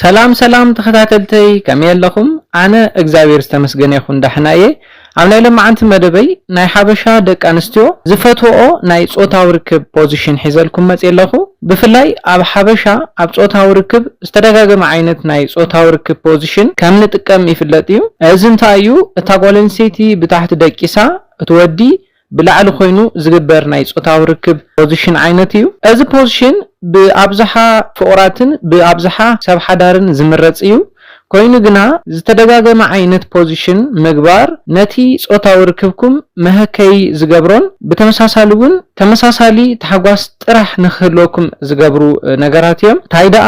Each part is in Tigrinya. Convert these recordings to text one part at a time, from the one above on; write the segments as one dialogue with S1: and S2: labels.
S1: ሰላም ሰላም ተከታተልተይ ከመይ ኣለኹም ኣነ እግዚኣብሔር ዝተመስገነ ይኹን ዳሕና እየ ኣብ ናይ ለማዓንቲ መደበይ ናይ ሓበሻ ደቂ ኣንስትዮ ዝፈትወኦ ናይ ፆታዊ ርክብ ፖዚሽን ሒዘልኩም መፅየ ኣለኹ ብፍላይ ኣብ ሓበሻ ኣብ ፆታዊ ርክብ ዝተደጋገመ ዓይነት ናይ ፆታዊ ርክብ ፖዚሽን ከም ንጥቀም ይፍለጥ እዩ እዚ እንታይ እዩ እታ ጓል ኣንስተይቲ ብታሕቲ ደቂሳ እቲ ወዲ ብላዕሊ ኮይኑ ዝግበር ናይ ጾታዊ ርክብ ፖዚሽን ዓይነት እዩ። እዚ ፖዚሽን ብኣብዝሓ ፍቑራትን ብኣብዝሓ ሰብ ሓዳርን ዝምረጽ እዩ። ኮይኑ ግና ዝተደጋገመ ዓይነት ፖዚሽን ምግባር ነቲ ጾታዊ ርክብኩም መሀከዪ ዝገብሮን ብተመሳሳሊ እውን ተመሳሳሊ ታሕጓስ ጥራሕ ንክህልወኩም ዝገብሩ ነገራት እዮም። ታይ ደኣ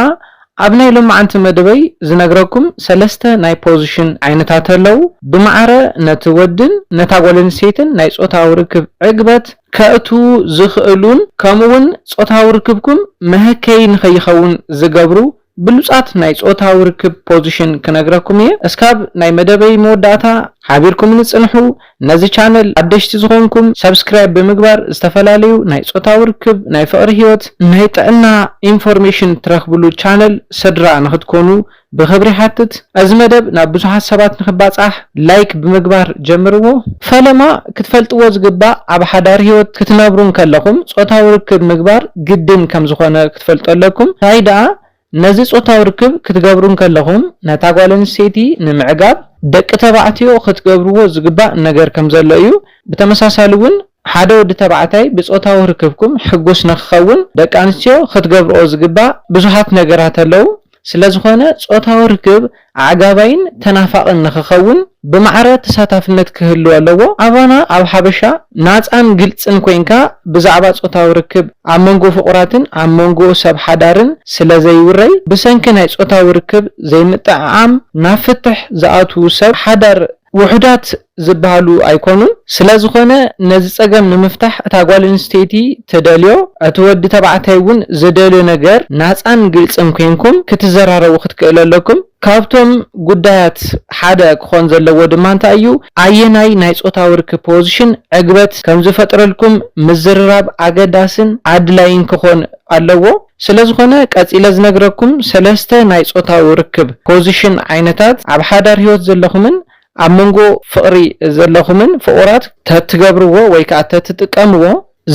S1: ኣብ ናይ ሎማዓንቲ መደበይ ዝነግረኩም ሰለስተ ናይ ፖዝሽን ዓይነታት ኣለው ብማዕረ ነቲ ወድን ነታ ጓለንስተይትን ናይ ጾታዊ ርክብ ዕግበት ከእትዉ ዝኽእሉን ከምኡ ውን ጾታዊ ርክብኩም መሀከዪ ንኸይኸውን ዝገብሩ ብሉጻት ናይ ጾታዊ ርክብ ፖዝሽን ክነግረኩም እየ እስካብ ናይ መደበይ መወዳእታ ሓቢርኩምኒ ጽንሑ ነዚ ቻነል ሓደሽቲ ዝኾንኩም ሳብስክራይብ ብምግባር ዝተፈላለዩ ናይ ፆታዊ ርክብ፣ ናይ ፍቕሪ ህይወት፣ ናይ ጥዕና ኢንፎርሜሽን ትረኽብሉ ቻነል ስድራ ንኽትኮኑ ብኽብሪ ይሓትት። እዚ መደብ ናብ ብዙሓት ሰባት ንኽባፃሕ ላይክ ብምግባር ጀምርዎ። ፈለማ ክትፈልጥዎ ዝግባእ ኣብ ሓዳር ህይወት ክትነብሩ እንከለኹም ፆታዊ ርክብ ምግባር ግድን ከምዝኾነ ክትፈልጡ ኣለኩም። ታይ ደኣ ነዚ ጾታዊ ርክብ ክትገብሩ እንከለኹም ነታ ጓል ኣንስተይቲ ንምዕጋብ ደቂ ተባዕትዮ ክትገብርዎ ዝግባእ ነገር ከም ዘሎ እዩ። ብተመሳሳሊ እውን ሓደ ወዲ ተባዕታይ ብጾታዊ ርክብኩም ሕጉስ ንኽኸውን ደቂ ኣንስትዮ ክትገብርኦ ዝግባእ ብዙሓት ነገራት ኣለዉ። ስለዝኾነ ጾታዊ ርክብ ኣዕጋባይን ተናፋቕን ንክኸውን ብማዕረ ተሳታፍነት ክህልው ኣለዎ። ኣባና ኣብ ሓበሻ ናጻን ግልጽን ኮይንካ ብዛዕባ ጾታዊ ርክብ ኣብ መንጎ ፍቑራትን ኣብ መንጎ ሰብ ሓዳርን ስለ ዘይውረይ ብሰንኪ ናይ ጾታዊ ርክብ ዘይምጥዕዓም ናብ ፍትሕ ዝኣትው ሰብ ሓዳር ውሑዳት ዝበሃሉ ኣይኮኑን። ስለዝኾነ ነዚ ፀገም ንምፍታሕ እታ ጓል ኣንስተይቲ ትደልዮ እቲ ወዲ ተባዕታይ እውን ዝደልዮ ነገር ናፃን ግልፅን ኮይንኩም ክትዘራረቡ ክትክእሉ ኣለኩም። ካብቶም ጉዳያት ሓደ ክኾን ዘለዎ ድማ እንታይ እዩ ኣየናይ ናይ ፆታዊ ርክብ ፖዝሽን ዕግበት ከምዝፈጥረልኩም ምዝርራብ ኣገዳስን ኣድላይን ክኾን ኣለዎ። ስለዝኾነ ቀጺለ ዝነግረኩም ሰለስተ ናይ ጾታዊ ርክብ፣ ፖዚሽን፣ ዓይነታት ኣብ ሓዳር ህይወት ዘለኹምን ኣብ መንጎ ፍቕሪ ዘለኹምን ፍቑራት ተትገብርዎ ወይ ከኣ ተትጥቀምዎ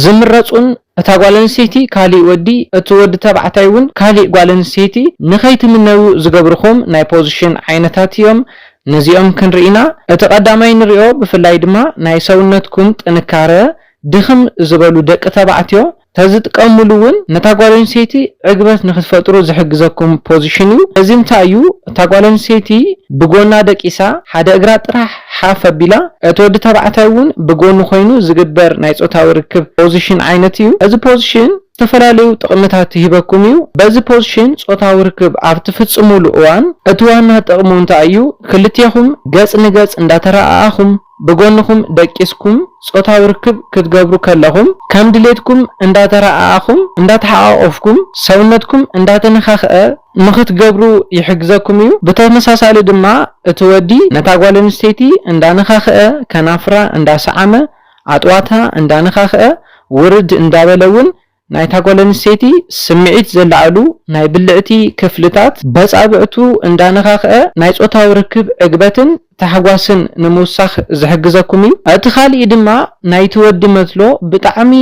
S1: ዝምረጹን እታ ጓል ኣንስተይቲ ካሊእ ወዲ እቲ ወዲ ተባዕታይ ውን ካሊእ ጓል ኣንስተይቲ ንኸይትምነዩ ዝገብርኹም ናይ ፖዚሽን ዓይነታት እዮም ነዚኦም ክንርኢ ኢና እቲ ቀዳማይ ንሪኦ ብፍላይ ድማ ናይ ሰውነትኩም ጥንካረ ድኽም ዝበሉ ደቂ ተባዕትዮ ተዝጥቀምሉ ውን ነታ ጓል ኣንስተይቲ ዕግበት ንክትፈጥሩ ዝሕግዘኩም ፖዚሽን ዩ እዚ እንታይ ዩ እታ ጓል ኣንስተይቲ ብጎና ደቂሳ ሓደ እግራ ጥራሕ ሓፍ ኣቢላ እቲ ወዲ ተባዕታይ ውን ብጎኑ ኮይኑ ዝግበር ናይ ፆታዊ ርክብ ፖዚሽን ዓይነት ዩ እዚ ፖዚሽን ዝተፈላለዩ ጥቅምታት ይህበኩም ዩ በዚ ፖዚሽን ፆታዊ ርክብ ኣብ ትፍፅሙሉ እዋን እቲ ዋና ጥቅሙ እንታይ ዩ ክልቴኹም ገፅ ንገፅ እንዳተረኣኣኹም ብጎንኹም ደቂስኩም ጾታዊ ርክብ ክትገብሩ ከለኹም ከም ድሌትኩም እንዳተረኣኣኹም እንዳተሓቛቖፍኩም ሰውነትኩም እንዳተነኻኽኣ ንኽትገብሩ ይሕግዘኩም እዩ። ብተመሳሳሊ ድማ እቲ ወዲ ነታ ጓል ኣንስተይቲ እንዳነኻኽኣ ከናፍራ እንዳሰዓመ ኣጥዋታ እንዳነኻኽኣ ውርድ እንዳበለ እውን ናይታ ጓል ኣንስተይቲ ስምዒት ዘለዓዕሉ ናይ ብልዕቲ ክፍልታት በጻብዕቱ እንዳነኻኽዐ ናይ ጾታዊ ርክብ ዕግበትን ታሕጓስን ንምውሳኽ ዝሕግዘኩም እዩ። እቲ ካልእይ ድማ ናይቲ ወዲ መትሎ ብጣዕሚ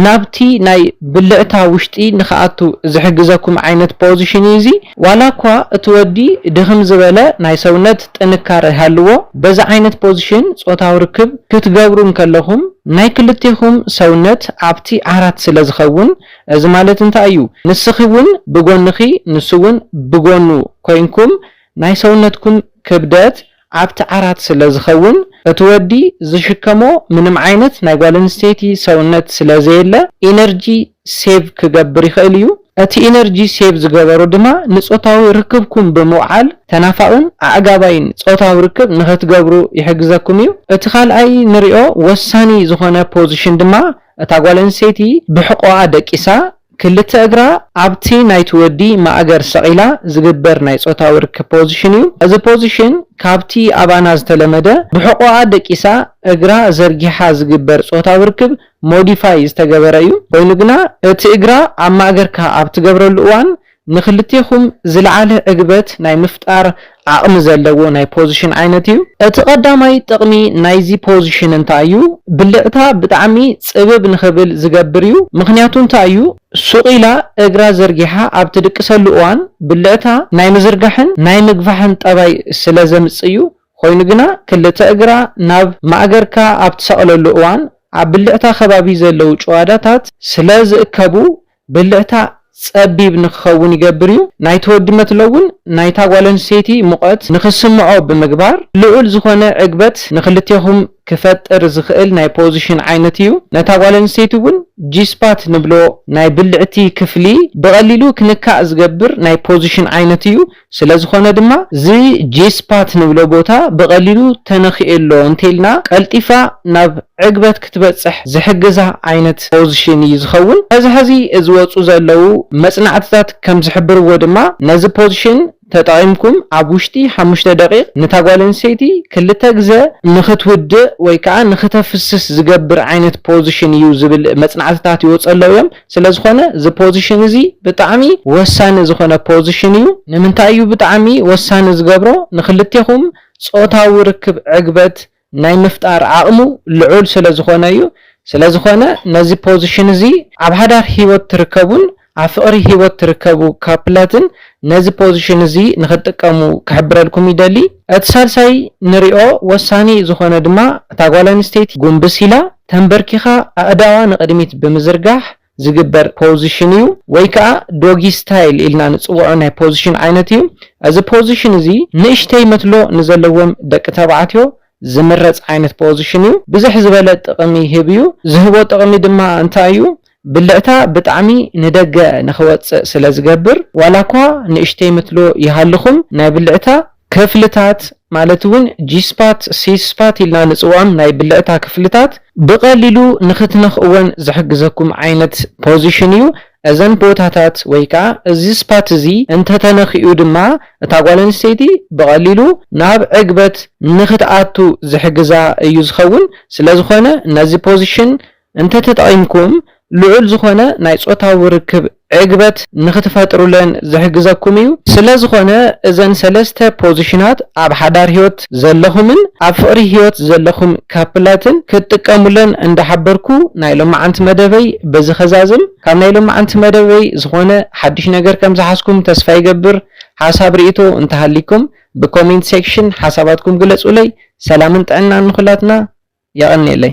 S1: ናብቲ ናይ ብልዕታ ውሽጢ ንክኣቱ ዝሕግዘኩም ዓይነት ፖዝሽን እዩ እዚ። ዋላ እኳ እቲ ወዲ ድኽም ዝበለ ናይ ሰውነት ጥንካረ ይሃልዎ፣ በዚ ዓይነት ፖዝሽን ጾታዊ ርክብ ክትገብሩ እንከለኹም ናይ ክልቴኹም ሰውነት ኣብቲ ዓራት ስለ ዝኸውን፣ እዚ ማለት እንታይ እዩ? ንስኺ እውን ብጎንኺ ንሱ እውን ብጎኑ ኮይንኩም ናይ ሰውነትኩም ክብደት ኣብቲ ዓራት ስለ ዝኸውን እቲ ወዲ ዝሽከሞ ምንም ዓይነት ናይ ጓል ኣንስተይቲ ሰውነት ስለ ዘየለ ኢነርጂ ሴቭ ክገብር ይኽእል እዩ። እቲ ኢነርጂ ሴቭ ዝገበሮ ድማ ንጾታዊ ርክብኩም ብምውዓል ተናፋቕን ኣዕጋባይን ጾታዊ ርክብ ንኽትገብሩ ይሕግዘኩም እዩ። እቲ ካልኣይ ንሪኦ ወሳኒ ዝኾነ ፖዚሽን ድማ እታ ጓል ኣንስተይቲ ብሕቖኣ ደቂሳ ክልተ እግራ ኣብቲ ናይቲ ወዲ ማእገር ሰቒላ ዝግበር ናይ ጾታዊ ርክብ ፖዚሽን እዩ። እዚ ፖዚሽን ካብቲ ኣባና ዝተለመደ ብሕቖኣ ደቂሳ እግራ ዘርጊሓ ዝግበር ጾታዊ ርክብ ሞዲፋይ ዝተገበረ እዩ። ኮይኑ ግና እቲ እግራ ኣብ ማእገርካ ኣብ ትገብረሉ እዋን ንክልቴኹም ዝለዓለ ዕግበት ናይ ምፍጣር ዓቕሚ ዘለዎ ናይ ፖዚሽን ዓይነት እዩ። እቲ ቀዳማይ ጥቕሚ ናይዚ ፖዚሽን እንታይ እዩ? ብልዕታ ብጣዕሚ ጽብብ ንክብል ዝገብር እዩ። ምኽንያቱ እንታይ እዩ? ሱቕ ኢላ እግራ ዘርጊሓ ኣብ ትድቅሰሉ እዋን ብልዕታ ናይ ምዝርጋሕን ናይ ምግፋሕን ጠባይ ስለ ዘምጽእ እዩ። ኾይኑ ግና ክልተ እግራ ናብ ማእገርካ ኣብ ትሰቕለሉ እዋን ኣብ ብልዕታ ከባቢ ዘለዉ ጭዋዳታት ስለ ዝእከቡ ብልዕታ ጸቢብ ንክኸውን ይገብር እዩ። ናይቲ ወዲ መትሎ'ውን ናይታ ጓለንስተይቲ ሙቐት ንክስምዖ ብምግባር ልዑል ዝኾነ ዕግበት ንክልቴኹም ክፈጥር ዝኽእል ናይ ፖዚሽን ዓይነት እዩ። ነታ ጓለንስተይቲ'ውን ጂ-ስፓት ንብሎ ናይ ብልዕቲ ክፍሊ ብቐሊሉ ክንካእ ዝገብር ናይ ፖዚሽን ዓይነት እዩ። ስለዝኾነ ድማ እዚ ጂ-ስፓት ንብሎ ቦታ ብቐሊሉ ተነኺኤሎ እንተይልና ቀልጢፋ ናብ ዕግበት ክትበፅሕ ዝሕግዛ ዓይነት ፖዝሽን እዩ ዝኸውን። ሐዚ ሐዚ ዝወፁ ዘለው መፅናዕትታት ከምዝሕብርዎ ድማ ነዚ ፖዝሽን ተጠቒምኩም ኣብ ውሽጢ ሓሙሽተ ደቒቕ ንታ ጓል ኣንስተይቲ ክልተ ግዘ ንኽትውድእ ወይ ከዓ ንኽተፍስስ ዝገብር ዓይነት ፖዝሽን እዩ ዝብል መፅናዕትታት ይወፁ ኣለው እዮም። ስለዝኾነ እዚ ፖዚሽን እዚ ብጣዕሚ ወሳኒ ዝኾነ ፖዚሽን እዩ። ንምንታይ እዩ ብጣዕሚ ወሳኒ ዝገብሮ ንኽልቴኹም ፆታዊ ርክብ ዕግበት ናይ ምፍጣር ዓቕሙ ልዑል ስለዝኾነ እዩ። ስለዝኾነ ነዚ ፖዚሽን እዚ ኣብ ሓዳር ህይወት ትርከቡን ኣብ ፍቕሪ ህይወት ትርከቡ ካፕላትን ነዚ ፖዚሽን እዚ ንኽትጥቀሙ ክሕብረልኩም ይደሊ። እቲ ሳልሳይ ንሪኦ ወሳኒ ዝኾነ ድማ እታ ጓል ኣንስተይቲ ጉንብስ ኢላ ተምበርኪኻ ኣእዳዋ ንቕድሚት ብምዝርጋሕ ዝግበር ፖዝሽን እዩ ወይ ከዓ ዶጊ ስታይል ኢልና ንፅውዖ ናይ ፖዝሽን ዓይነት እዩ። እዚ ፖዝሽን እዚ ንእሽተይ መትሎ ንዘለዎም ደቂ ተባዕትዮ ዝምረፅ ዓይነት ፖዝሽን እዩ። ብዝሕ ዝበለ ጥቕሚ ይህብ እዩ። ዝህቦ ጥቕሚ ድማ እንታይ እዩ? ብልዕታ ብጣዕሚ ንደገ ንክወጽእ ስለ ዝገብር ዋላኳ ንእሽተይ ምትሎ ይሃልኹም ናይ ብልዕታ ክፍልታት ማለት ውን ጂስፓት ሲስፓት ኢልና ንጽውዖም ናይ ብልዕታ ክፍልታት ብቀሊሉ ንክትነኽእወን ዝሕግዘኩም ዓይነት ፖዚሽን እዩ እዘን ቦታታት ወይ ከኣ እዚ ስፓት እዚ እንተተነኺኡ ድማ እታ ጓል ኣንስተይቲ ብቀሊሉ ናብ ዕግበት ንክትኣቱ ዝሕግዛ እዩ ዝኸውን ስለዝኾነ ነዚ ፖዚሽን እንተተጠቒምኩም ልዑል ዝኾነ ናይ ጾታዊ ርክብ ዕግበት ንኽትፈጥሩለን ዝሕግዘኩም እዩ። ስለዝኾነ እዘን ሰለስተ ፖዚሽናት ኣብ ሓዳር ህይወት ዘለኹምን ኣብ ፍቕሪ ህይወት ዘለኹም ካፕላትን ክትጥቀሙለን እንዳሓበርኩ ናይ ሎማዓንቲ መደበይ በዚ ከዛዝም። ካብ ናይ ሎማዓንቲ መደበይ ዝኾነ ሓዱሽ ነገር ከምዝሓዝኩም ተስፋ ይገብር። ሓሳብ ሪኢቶ እንተሃልይኩም ብኮሜንት ሴክሽን ሓሳባትኩም ግለጹለይ። ሰላምን ጥዕናን ንኹላትና። የቐንየለይ።